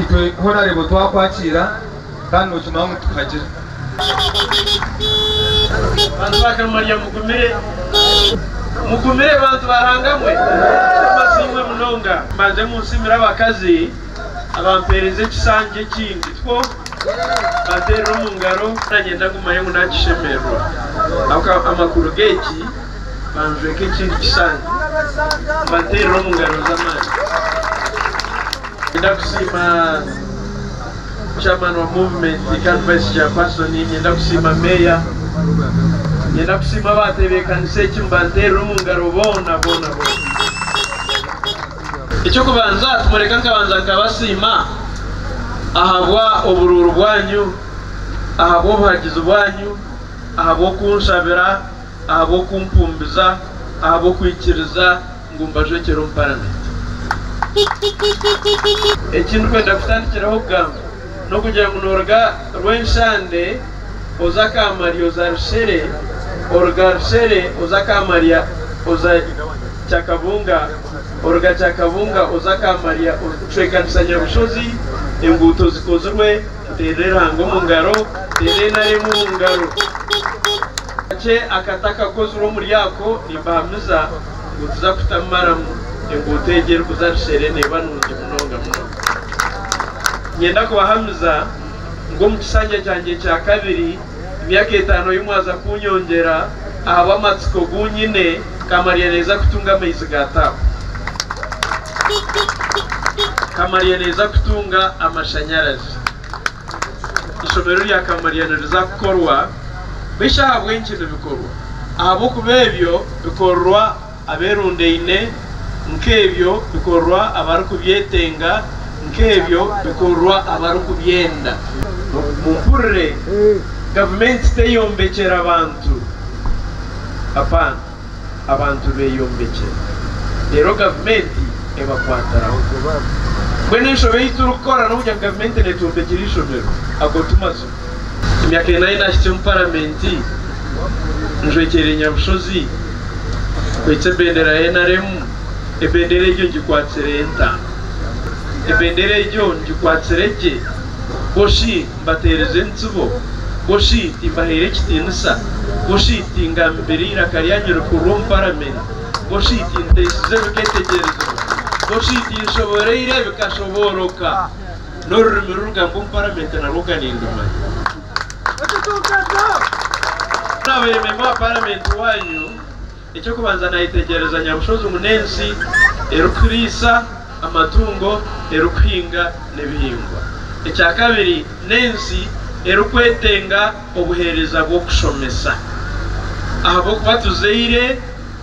Itwe horareeba otwakwakiira kandi nokimanya ngu tukagira. Bantu ba Gamaliya mugumire. Mugumire bantu ba Ranga mwe. Amasiimwe munonga. Mbanze munsiimire abakazi abampeereza ekishangi ekindi kwo mbateerire omu ngaro. Nanye ndagumayo ngu nakishemererwa ahabw'amakuru g'eki. Banzweeke ekindi kishushani. Mbateerere omu ngaro z'amaani. Niinyenda kusiima Chairman wa Movement kandi Vice Chairperson. Niinyenda kusiima Meeya. Niinyenda kusiima abaatebeekanisa eki. Mbanteerere omu ngaro boona boona boona. Eky'okubanza timureka nkabanza nkabasiima ahabwa oburuuru bwanyu, ahabw'obuhagizi bwanyu, ahabw'okunshabira. ahabw'okumpumbiza ahabw'okwikiriza ngu mbajwekyere omu paramenti. Eki ndikwenda kutandikiraho kugamba n'okugira ngu nooruga Rwenshande oza Kamari oza Rushere, oruga Rushere oza Kamaria oza Kyakabunga, oruga Kyakabunga oza Kamaria ocwekanisa Nyabushozi enguuto zikozirwe Nteera erango omu ngaro, nteera enara emwe omu ngaro. Kakye akati akakozirwe omuri ako, nimbahamiza ngu tuza kuta maramu enguuto egyo erikuza Rushere neeba nungi munonga munonga. Niinyenda kubahamiza ngu omu kisanja kyangye kya kabiri, Emyaka etaano ei mwaza kunyongyera ahabw'amatsiko gu nyine, nkamarya neeza kutunga amaizi ga taapu. Nkamarya neeza kutunga amashanyarazi. Eishomero rya Kamarya niriza kukorwa. Beishi ahabw'enki nibikorwa? Ahabw'okuba ebyo bikorwa. Aberundaine, nk'ebyo bikorwa abarikubyetenga, nk'ebyo bikorwa abarikubyenda. Mumpurire, gavumenti teyombekyera bantu, apaana, abantu beyombekyera, reero gavumenti ebakwatiraho. Mbwenu enshobe ei turikukora n'okugira ngu gavumenti netwombekyera eishomero, ago ti mazima. Emyaka ena yi naahikire omu Paramenti, njwekyereire Nyabushozi, nkwitse ebendera ya NRM. Ebendera egyo ngikwatsire nta? Ebendera egyo ngikwatsire gye? Bushi mbateerize entsibo? Bushi timbahaire ekitiinisa? Bushi tingambire eiraka ryanyu rikuru omu Paramenti? Bushi tinteisize biketegyerezibwa? Bushi tinshoboreire bikashobooroka? N'orurimi rurugambwa omu paramenti narwo ga nindumanya. Naabaire memba wa paramenti waanyu, eky'okubanza naayetegyereza nyabushozi ngu n'ensi erikuriisa amatungo, erikuhinga n'ebihingwa. Ekyakabiri n'ensi erikwetenga obuheereza bw'okushomesa ahabw'okuba tuzaire.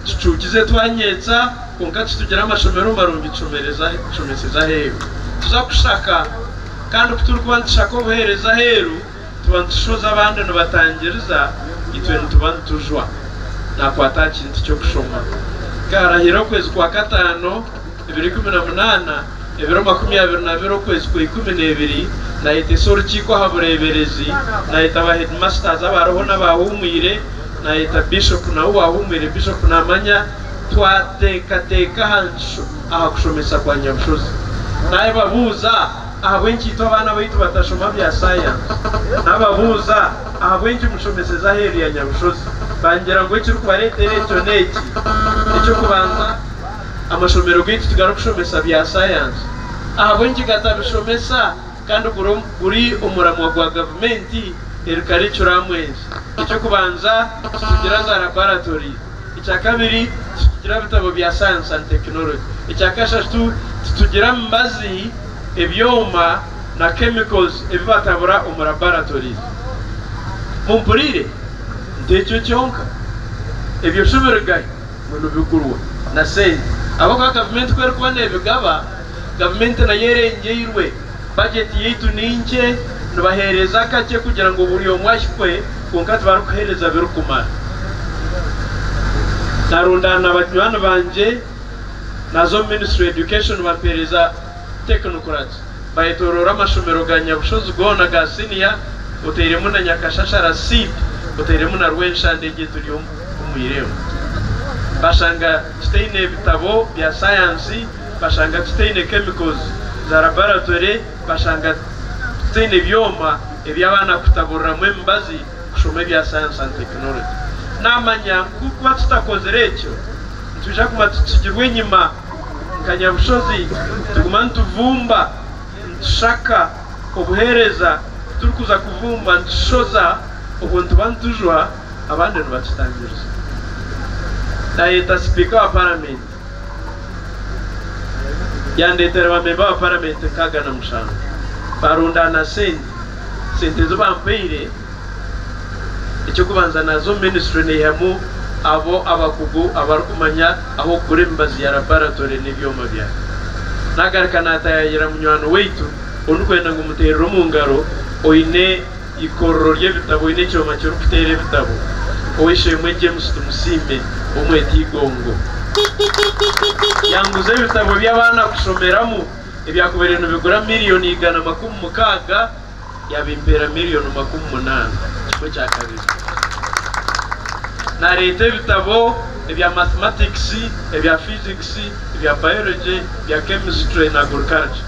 Kicuukize twanyeetsa kwonka titugire amashomero marungi tushomesereze aheeru. Tuza kushaka kandi ku turikuba nitushaka obuheereza aheeru tuba nitushoza abandi nibatangiriza itwe nituba nitujwa. Naakwata aha kintu ky'okushoma. Nkaarahira okwezi kwa kataano. Ebiro ikumi na munaana, ebiro makumi abiri na bira okwezi kwa ikumi n'ebiri, naayetesa orukiiko aha bureeberezi, naayeta ba heedimasitazi abaroho n'abaahuumwire, naayeta bishopu nawe owaahuumwire. Bishopu naamanya twateekateeka aha ngisho aha kushomesa kwa Nyabushozi. Naababuuza ahabw'enki itwe abaana baitu batashoma bya saayansi. Naababuuza ahabw'enki mushomeseza aheeru ya Nyabushozi. Baangira ngu ekirikubareetera ekyo n'eki, eky'okubanza, Amashomero gaitu tigarikushomesa bya sayansi. Ahabw'enki gatabishomesa kandi guri omuramwa gwa gavumenti eri karikuramu ensi? Eky'okubanza, titugira za rabaratori. Ekya kabiri, titugira bitabo bya sayansi and tekinologi. Ekya kashatu, titugira mibazi, ebyoma na chemicals ebi batabura omu rabaratorizi. Mumpuriire, nti ekyo kyonka? Ebyo shi biri gahi? ngu nibigurwa na sente ahabw'okuba gavumenti ku erikuba neebigaba, gavumenti nayo erengyeirwe, bajeti yaitu ni nkye, nibaheereza akakye kugira ngu buri omwe ahikwe kwonka tibarikuheereza birikumara. Narundaana na banywani bangye naaza omu ministry ya Education bampeereza technocrats bayetooroora amashomero ga Nyabushozi goona ga siniya otairemu na Nyakashashara seed otairemu na Rwenshande egi eturimu. omu irembo. Bashanga tutaine bitabo bya sayansi, bashanga tutaine chemicals za laboratory, bashanga tutaine byoma ebi abaana kutaburiramu emibazi kushoma ebya science and technology. Namanya ngu kuba tutakozire ekyo, nitwija kuguma tutsigirwe enyima nka nyabushozi, tuguma nituvumba. nitushaka obuheereza titurikuza kuvumba nitushoza obwo nituba nitujwa abandi nibatutangiriza. Naayeta sipiika wa paramenti yandeetera bamemba ba paramenti nkaaga na mushanju baarundaana sente, sente ezi baampaire. Eky'okubanza naaza omu minisitule naihamu abo abakugu abarikumanya ah'okugura emibazi ya labaratore n'ebyoma byayo. Naagaruka naataayaayira munywani waitu ou ndikwenda ngu muteerere omu ngaro oine eikorero ry'ebitabo, oine ekyoma kirikuteera ebitabo, ow'eishe-emwe James Tumusiime ow'omweta Igongo. Yanguza ebitabo by'abaana kushomeramu ebyakubaire nibigura miliyooni igana makumi mukaaga. yabimpeera million makumi munaana ekicwe kya kabiri. Nareeta ebitabo ebya mathematics, ebya physics, ebya biology, ebya chemistry na agriculture.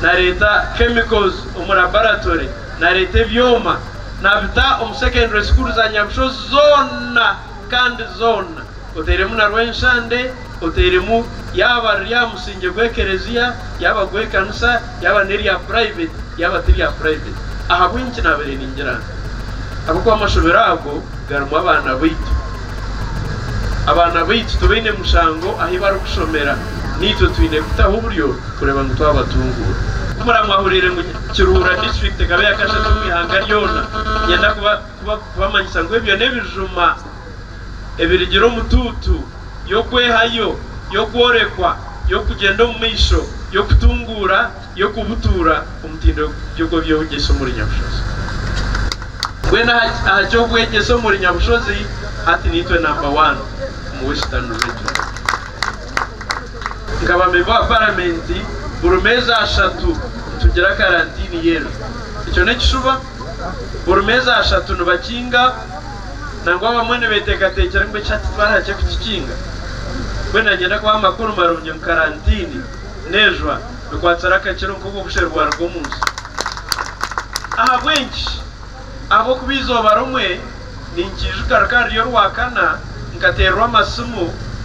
Nareeta chemicals omu laboratory. Nareeta ebyoma nabita omu secondary school za Nyabushozi zoona. Kandi zoona oteeremu na rw'enshande, oteeremu yaaba riri aha musingye gw'ekerezia, yaaba gw'ekanisa, yaaba n'erya puraiveti, yaaba ti rya puraiveti. Ahabw'enki naabaire ningira nti? Ahabw'okuba amashomero ago garimu abaana baitu. Abaana baitu tibaine mushango ahu barikushomera. Naitwe twine kutaho oburyo kureeba ngu twabatunguura. Kumuraba mwahuriire ngu Kiruhura District ekaba eya kashatu omu ihanga ryona. Niinyenda kuba. kubamanyisa ngu ebyo n'ebijuma ebirigira omutuutu y'okwehayo, y'okworekwa, y'okugyenda omu maisho, y'okutunguura, y'okubutuura omutindo gw'eby'obwegyese omuri nyabushozi. Mbwenu aha ky'obwegyese omuri nyabushozi, hati niitwe namba wani omu Western Region. Nkaba memba wa Paramenti, buri meezi ashatu nitugira karantiini y'enju. Ekyo n'ekishuba? Buri meeza ashatu nibakinga nangwa abamwe nibeteekateekyera ngu ekisha titwari hakye kukikinga. Mbwenu naagyenda kubaha amakuru marungi ngu karantiini n'ejwa bikwatsire akakiro nk'obwo busheru bwaruga omu nsi. Ahabw'enki? Ahabw'okuba eizooba rimwe ninkiijuka rukaba ruri Orwakana, nkateererwa amasimu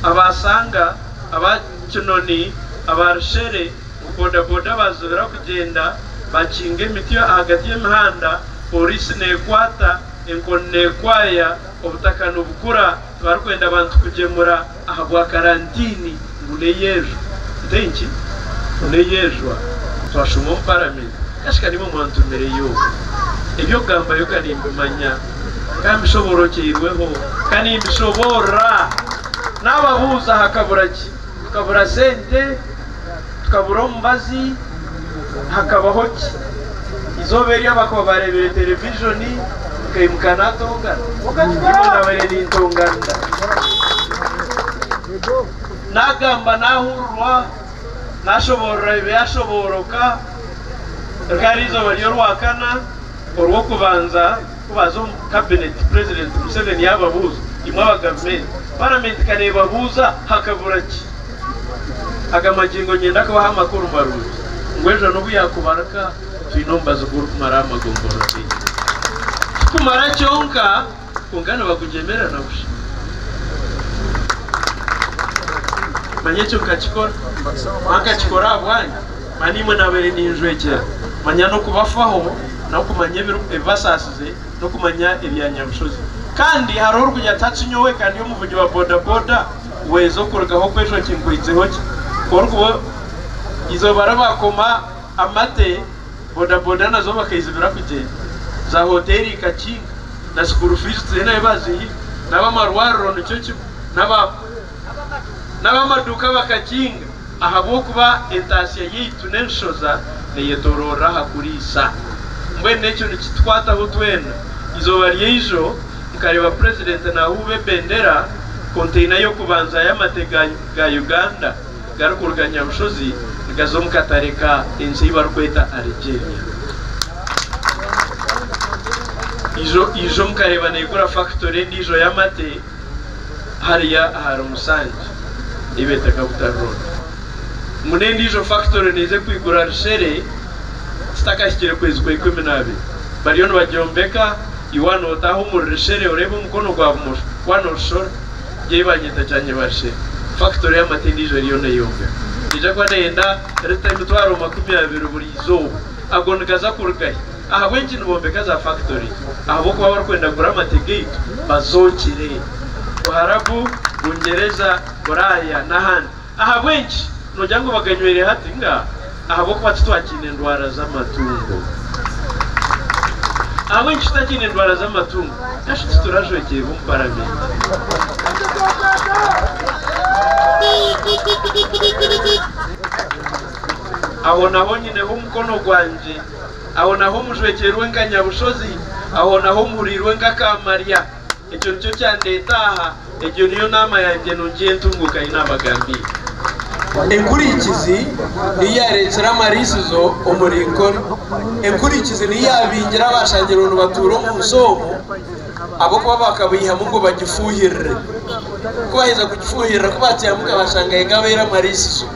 aba Sanga, aba Kinoni, aba Rushere, Ku bodaboda baazubira kugyenda bakinga emiti ahagati y'emihanda, pooriisi neekwata, enkoni neekwaya, obutaka nibukura, tibarikwenda bantu kugyemura ahabwa karantiini ngu n'eyeejwa. Twashuma omu paramenti kashika nimwe mwantumireyo. Eby'okugambayo ka nimbimanya, ka mbishoboorookyeirweho, ka nimbishoboorora. Naababuuza hakabura ki? Tukabura sente, tukabura omubazi, hakabaho ki? Eizooba eryo abakaba baareebire terevijoni, nkaimuka naatongana. Kwonka nyowe naabaire nintonganira. Naagamba naahurirwa, naashoboorora ebyashobooroka, rikaba riizooba ry'Orwakana, Orwokubanza. Ku baaza omu kabineti, Purezidenti Museveni yaababuuza, Imwe aba gavumenti, paramenti ka neebabuuza hakabura ki? Aga magingo nyenda kubaha amakuru marungi ngu ejo n'obu yaakubarika twine omubazi gw'orikumaraho amagombolola gaingi. Tikumara kyonka, kwonka nibagugyemerera na busha. Manya ekyo nkakikora, ahankakikora ahabwanyu. Manya imwe naabaire ninjwekyera, manya n'okubafaho, nawe kumanya ebibasaasize, n'okumanya ebya Nyabushozi. Kandi hariho orikugira ati hati nyowe ka ndi omuvugi wa bodaboda waiza okurugaho okwejwa kinkwaitseho ki? Ku orikuba eizooba ribaakoma amate, bodaboda nazo bakaizibira kugyenda, za hoteeri ikakinga, na sukuuru fiizi tiziine ahu baaziihire, n'ab'amarwariro nikyo kimwe, n'ab'amaduuka bakakinga. Ahabw'okuba entaatsya yaitu n'enshoza neyetoroorera aha kuriisa. Mbwenu ekyo nikitukwataho twena. Eizooba ry'eijo nkareeba Purezidenti naahuuba ebendera, konteina y'okubanza y'amate ga ga Uganda garikuruga Nyabushozi nigaza omu katare ka ensi ei barikweta Algeria. Eijo eijo mukareeba neegura fakitori endiijo y'amate. hariya ahari Musangi ei beeta Kabutare Road ngu n'endiijo fakitori neija kwigura rushere kitakahikire kwezi kwa ikumi n'abiri. Bariyo nibagyombeka, iwe waaba nootaaha omuri rushere oreeba omukono gwa bumosho waaba noorushora gye ei baanyeta Kyanyeba Rushere, fakitori y'amata endiijo eriyo neeyombekwa neija kuba neeyenda liita emitwaro makumi abiri buri izooba. Ago nigaza kuruga hi? Ahabw'enki nibombeka za fakitori? Ahabw'okuba barikwenda kugura amate gaitu bazookire. Buharabu, Bungyereza, Buraaya, n'ahandi. Ahabw'enki? Noogira ngu baganyweire hati? Ngaa. Ahabw'okuba titwakiine ndwara z'amatungo. Ahabw'enki tutakiine ndwara z'amatungo? Nashi titurajwekyerwa omu Paramenti. Aho naho nyineho omukono gwangye, aho naho mujwekyerwe nka nyabushozi, aho naho mpuriirwe nk'akaamarya. Ekyo nikyo kyandeeta aha, egyo niyo naama yangye nungi ey'entunguuka ei naabagambiire. Enkurikizi niyo yaareetsire amariisizo omuri nkori, enkurikizi niyo yaabingire abaashangirwe nibatuura omu nsi omu. Ahabw'okuba baakabaihamu ngu bagifuuhirire. Ku baaheza kugifuuhirira, ku baakyehamuka baashanga yekabaire amariisizo.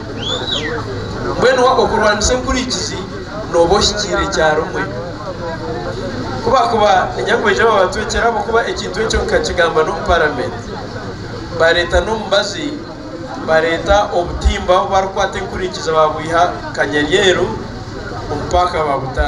Mbwenu wa okurwanisa enkurikizi nooba ohikiire kyarimwe. Ku baakuba enyakubaija aba bantu ekiro ahabw'okuba ekintu ekyo nkakigamba n'omu Paramenti. Baareeta n'omubazi, baareeta obutimba ahu baarikwata enkurikizi baabwiha Kanyaryeru omu paaka baabuta.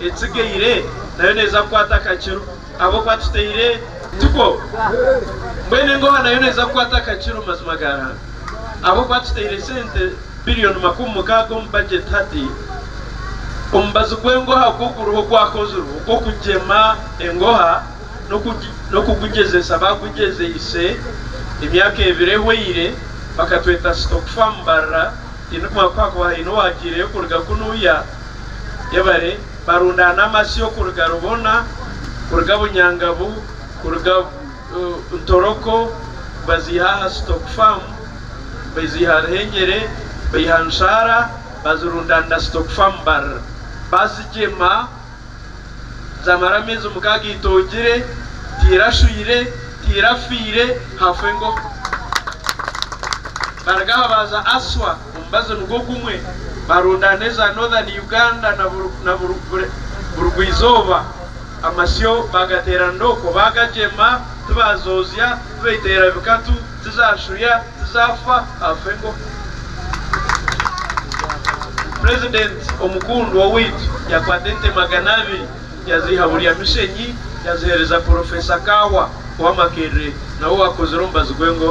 etsigaire nayo neeza kukwata akakiro ahabw'okuba tutaire tuko. Mbwenu engoha nayo neeza kukwata akakiro mazima ga Ruhanga ahabw'okuba tutaire sente biriyoni makumi mukaaga omu bajeti hati. Omubazi gw'engoha oku guriho gwakozirwe ogw'okugyema engoha n'okugugyezeesa baagugyezeise emyaka ebiri ehweire bakatweta Stock Farm Barra, tiindikumanya ku haakuba haine owaagyireyo kuruga kunuuya. Yebare barundaana amasyo kuruga Rubona, kuruga Bunyangabu, kuruga Ntoroko baziiha aha Stock Farm, baziiha Ruhengyere, baiha Nshaara bazirundaanira Stock Farm Mbarara. Bazigyema zaamara ameezi mukaaga itongire, tiirashwire, tiirafiire, hafwa engoha. Baruga aha baaza Aswa. Omubazi nigwo gumwe, baronda n'eza Northern Uganda na Burugwa-izooba. Amasyo baagateeranira okwo, baagagyema, tibaazoozya, tibaiteera bikatu, tizaashuya, tizaafa afa engo. Purezidenti omukundwa owaitu yakwata ente magana abiri. Yaziiha Burya Mishenyi yaziheereza Porofesa Kaahwa owa Makerere nawe owaakozire omubazi gw'engo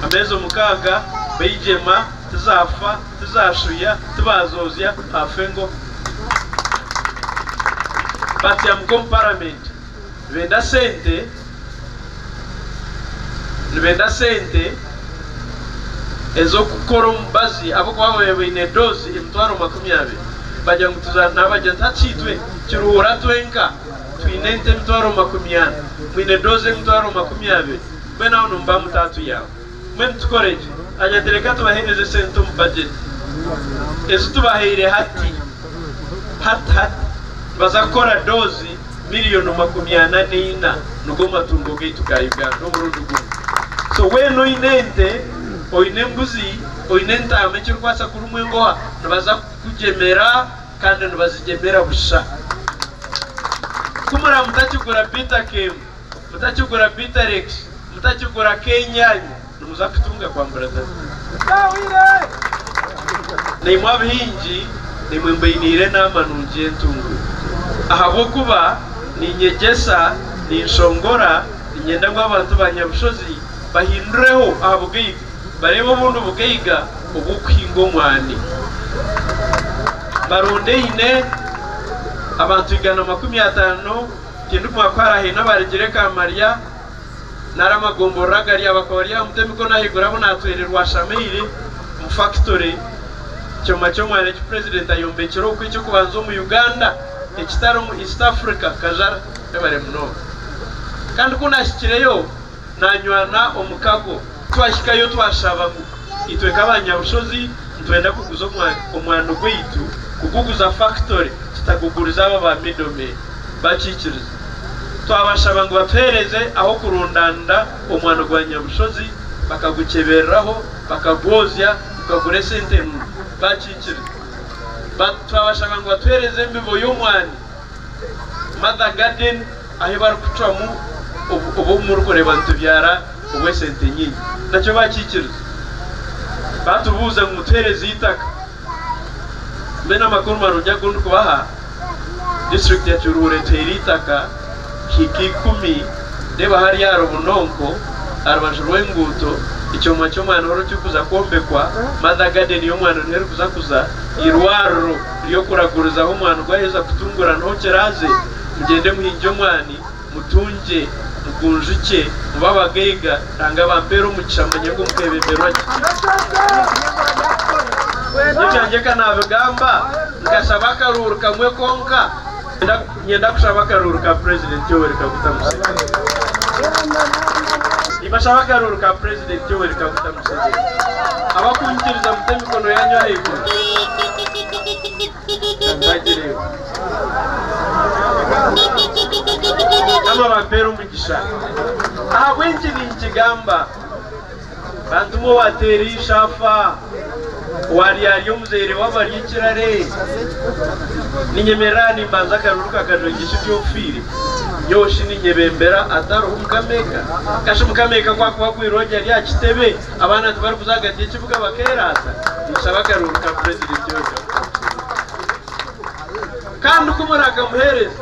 ameezi omukaaga baigyema tizaafa, tizaashuya, tibaazoozya haafa engo. Batyamuka omu Paramenti benda sente nibeeta sente ez'okukora omubazi ahabw'okuba babaire baine doozi emitwaro makumi abiri. Baagira ngu tuza naabagira nti hati itwe Kiruhura twenka twine ente emitwaro makumi ana, mwine doozi emitwaro makumi abiri, mbwenu aho nimuba mutaatuyamba. Mbwenu tukore ki? Hanyati reka tubaheereze sente omu bajeti ezi tubahaire hati hati hati. Nibaza kukora doozi miliyono makumi ana n'eina. Nigwo matungo gaitu ga Uganda omurundi gumwe. So weena oine ente, oine embuzi, oine entaama ekirikubaasa kurumwa engoha, nibaza kukugyemera kandi nibazigyemera busha. Ku muraamutakigura bitakeemu. Mutakigura Biterex, mutakigura K'enyanya, nimuza kutunga kwambura David. Naimwe abahingi, naimwe mbainiire enaama nungi y'entungu, ahabw'okuba niinyegyesa, ninshongora, niinyenda ngu abantu ba Nyabushozi bahindureho aha bugaiga, bareebe obundi bugaiga obw'okuhinga omwani. Mbarondeine abantu igana makumi ataano. Kindumwa ku harahaine abarigire eka Mariya nari amagomborero agari aho bakaba bari aha mutwe emikono ahaiguru abu naatwere rwashamaire omu fakitori kyoma ky'omwana eki purezidenti ayombekire oku eky'okubanza omu Uganda ekitari omu East Africa. Kajara ebare munonga kandi ku naahikireyo. Nanywana omukago. Twahikayo twashabamu. Itwe nk'abanyabushozi nitwenda kuguza omwano gwaitu kuguguza fakitore tutagugurize abo ba middlemen. Bakiikiriza. Twabashaba ngu batuheereze ah'okurundaanira omwano gwa nyabushozi bakagukyebereraho bakagwozya gukagura esente nungi. Bakiikiriza. Twabashaba ngu batuheereze embibo y'omwani. Mother garden ahu barikucwamu obu murikureeba nitubyara obw'esente nyingi. Nakyo baakikiriza. Baatubuuza ngu mutuheereze eitaka. Mbwenu amakuru marungi agu ndikubaha, disiturikiti ya Kiruhura etuhaire eitaka hiika ikumi reeba hariya aha Rubunonko aha rubaju rw'enguuto, ekyoma ky'omwana oriho kirikuza kwombekwa, Mother garden y'omwana eriho erikuza kuza eirwariro. By'okuragurizaho omwani ogwaheza kutungura n'ohu kiraaze, mugyende muhingye omwani, mutungye, mugunjukye, mube abagaiga, Ruhanga abampeere omugisha mumanye ngu mukebemberwa giti. Nyekyangye ka naabigamba, nkashaba akaruuru kamwe konka. Niinyenda kushaba akaruuru ka Purezidenti Yoweri Kaguta Museveni. Nimbashaba akaruuru ka Purezidenti Yoweri Kaguta Museveni abakunyikiriza mute emikono yaanyu ahaiguru ka mbagireho Mukama abampere omugisha. Ahabw'enki ninkigamba? Bantu mwe owateera eishe afa, owaryarya omuzaire we abarya ekirare. Ninyemerera aha nimbanza akaruru ka kajwengye shi ndi ofiire? Nyowe shi ninyebembera atariho Mukama eka? Ka shi Mukama eka ku akuba akwirwe ogye ari aha kitebe, abaana tibarikuza ahagati y'ekibuga bakeeraata? Ninshaba akaruru ka purezidenti oyo Jacob Zuma. Kandi ku murakamuheereza.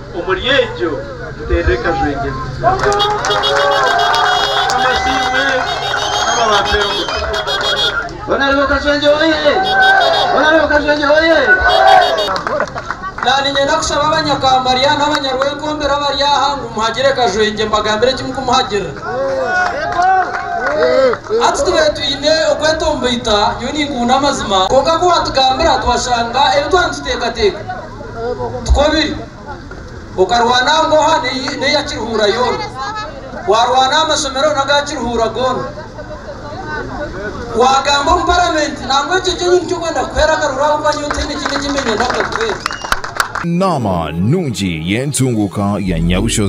Omuri egyo tuteera ekajwengyezo. Mukama asiimwe, Mukama abampere omugisha. Bonareeba Kajwengye Oye! Bonareeba Kajwengye Oye! Naaba niinyenda kushaba Abanyakambarya n'Abanyarwenkombere abari aha ngu muhagire Kajwengye mbagambire ki mukumuhagirira? Hati tubaire twine okwetomboita, nyowe ninkuhunda amazima, kwonka ku waatugambira twashanga ebi twaba nituteekateeka. Tikwo biri? Okarwana aha mboha n'eya Kiruhura yoona. Waarwana aha mashomero n'aga Kiruhura goona. Waagamba omu Paramenti nangwa ekyo kyenyu nikyo kwenda kukuheera akaruru ahabw'okuba nyowe tihaine ekindi eki mbe nyenda kukakuheera. Naama nungi y'entunguuka ya Nyabushozi.